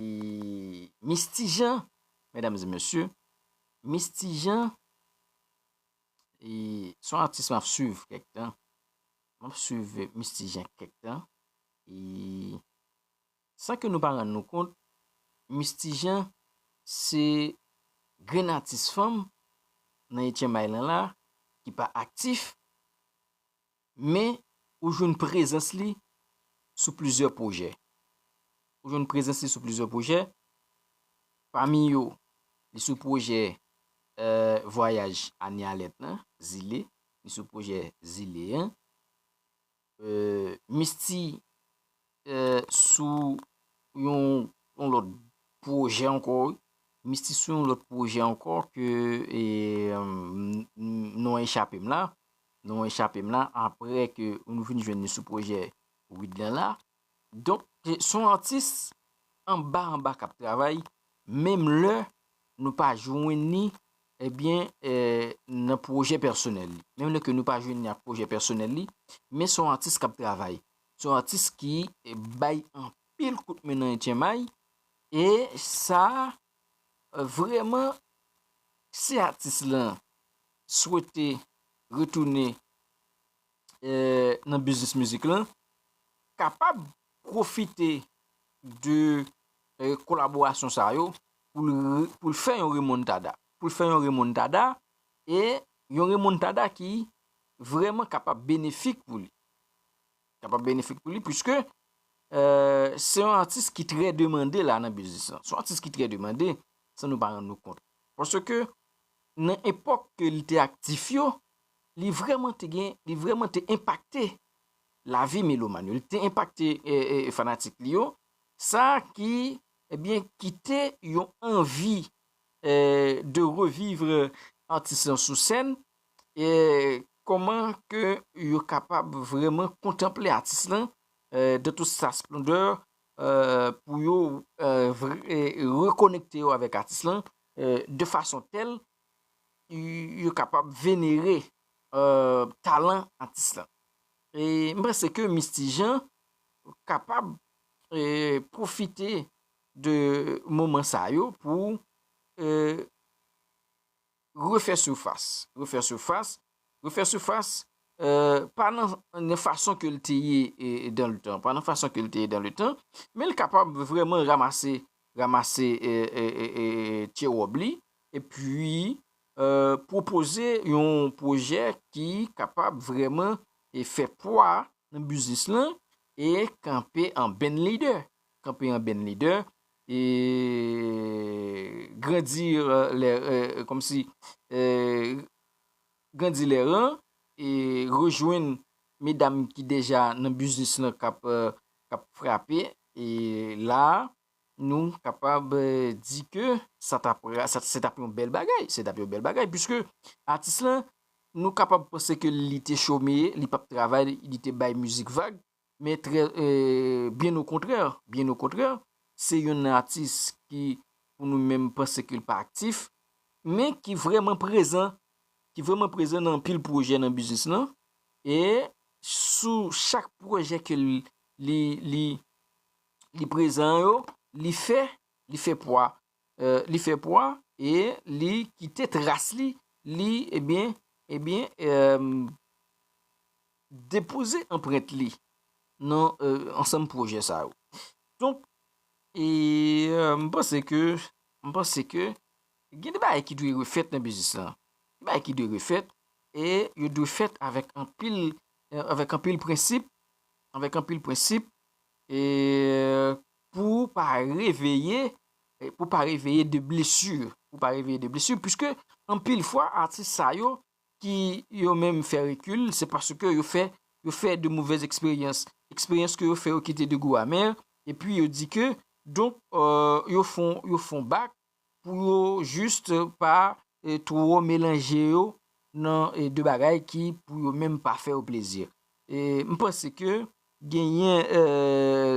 Misty Jean mesdames et messieurs Misty Jean son atis map swiv kèk tan map swiv Misty Jean kèk tan san ke nou pa rann nou kont Misty Jean se grenn atis fanm nan etyenmay lan la ki pa aktif Men, ou jwenn prezans li sou plizyè pwojè. Ou jwenn prezans li sou plizyè pwojè, pami yo, li sou pwojè Vwayaj Ane Alèt lan, Zile, li sou pwojè Zile an. Misty sou yon yon lòt pwojè ankò wi. Mistis sou yon lòt pwojè ankò ke non an echape m la. Non an echape m la aprè ke nou fin jwenn li sou pwojè Wid lan la. Donk se yon atis anba anba k ap travay menm lè nou pa jwenn ni ebyen nan pwojè pèsonèl li. Menm lè ke nou pa jwenn ni ak pwojè pèsonèl li men se yon atis k ap travay. Se yon atis ki bay anpil kout men nan etchemay e sa vreman si atis lan swete retounen nan biznis mizik lan kapab pwofite de kolaborasyon sa yo pou l fè yon remontada. Pou l fè yon remontada e yon remontada ki vreman kapab benefik pou li. kapab benefik pou li, pwiske se yon atis ki trè demande la nan biznis lan. Se yon atis ki trè demande, san nou pa rann nou kont. Pwoske nan epòk ke li te aktif yo, li vreman te gen, li vreman te impakte la vi meloman yo. Li te impakte fanatik li yo, sa ki, ebyen, eh ki te yon anvi eh, de revivre atis lan sou sèn, Koman ke yo kapab vreman kontanple atis lan dan tout sa splondè pou yo rekonekte yo avèk atis lan de fason tèl yo kapab venere talan atis lan. M panse ke Misty Jean kapab pwofite de moman sa yo pou Refè sifas, refè sifas, refè sifas, pa nan fason ke l te ye dan le tan, pa nan fason ke l te ye dan le tan, men l kapab vreman ramase, ramase tye wòb li, e pi pwopoze yon pwojè ki kapab vreman e fè pwa nan biznis lan, e kanpe an bèn lidè. kanpe an benn lidè, e grandi lè, kòm si, e grandi lè ran, e rejwenn medam ki deja nan biznis lan k ap frape, e la a, nou kapab di ke sa t ap, se t ap yon bèl bagay, se t ap yon bèl bagay, puiske atis lan, nou kapab panse ke li te chome, li p ap travay, li te bay mizik vag, Men trè byen o kontrè, byen o kontrè, se youn nan atis ki pou nou menm panse ke l pa aktif, men ki vrèman prezan, ki vrèman prezan nan anpil pwojè nan biznis lan, e sou chak pwojè ke li prezan yo, li fè, li fè pwa, li fè pwa e li kite tras li, li ebyen, ebyen, depoze anprent li nan ansanm pwojè sa yo. Donk, e m panse ke, m panse ke gen de bagay ki dwe refèt nan biznis lan. Gen bagay ki dwe refèt e yo dwe fèt avèk anpil, avèk anpil prensip, avèk anpil prensip e. pou ou pa reveye, pou pa reveye de blesu, pou pa reveye de blesu, puiske anpil fwa atis sa yo ki yo menm fè rekil, se paske yo fè, yo fè de movèz eksperyans, eksperyans ke yo fè yo kite de gou amè, epi yo di ke, donk, yo fon, yo fon bak, pou yo juste pa two melanje yo nan de bagay ki pou yo menm pa fè yo plezi. M panse ke genyen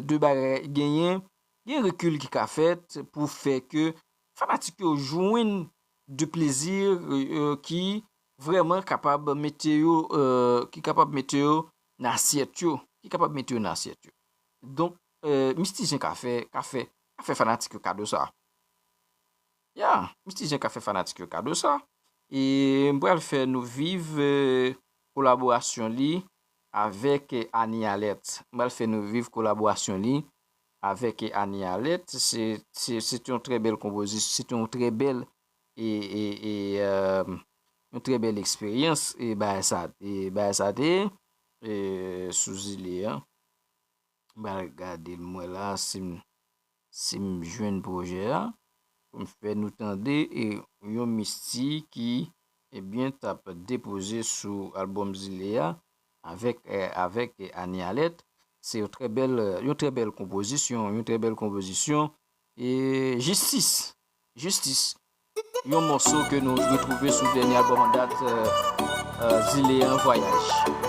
de bagay, genyen yon rekil ki ka fèt pou fè ke fanatik yo jwenn de plezi ki vreman kapab mete yo, ki kapab mete yo nan asyèt yo, ki kapab mete yo nan asyèt yo. Donk. Mistisyen ka fè ka fè ka fè fanatik yo kado sa yeah mistisyen ka fè fanatik yo kado sa e m pral fè nou viv kolaborasyon li avèk Annie Alerte m pral fè nou viv kolaborasyon li avèk Annie Alerte se se se te yon trè bèl konpozisyon se te yon trè bèl e e e yon trè bèl eksperyans e bagay sa te bagay sa te e sou zile an. M pral gade m wè la sim sim jwenn pwojè a pou m fè nou tande e yon Misty ki ebyen tap depoze sou album zile a avèk avèk Annie Alerte se yon trè bèl yon trè bèl konpozisyon yon trè bèl konpozisyon e jistis jistis yon mòso ke nou retwouve sou dènye album an dat zile an vwayaj.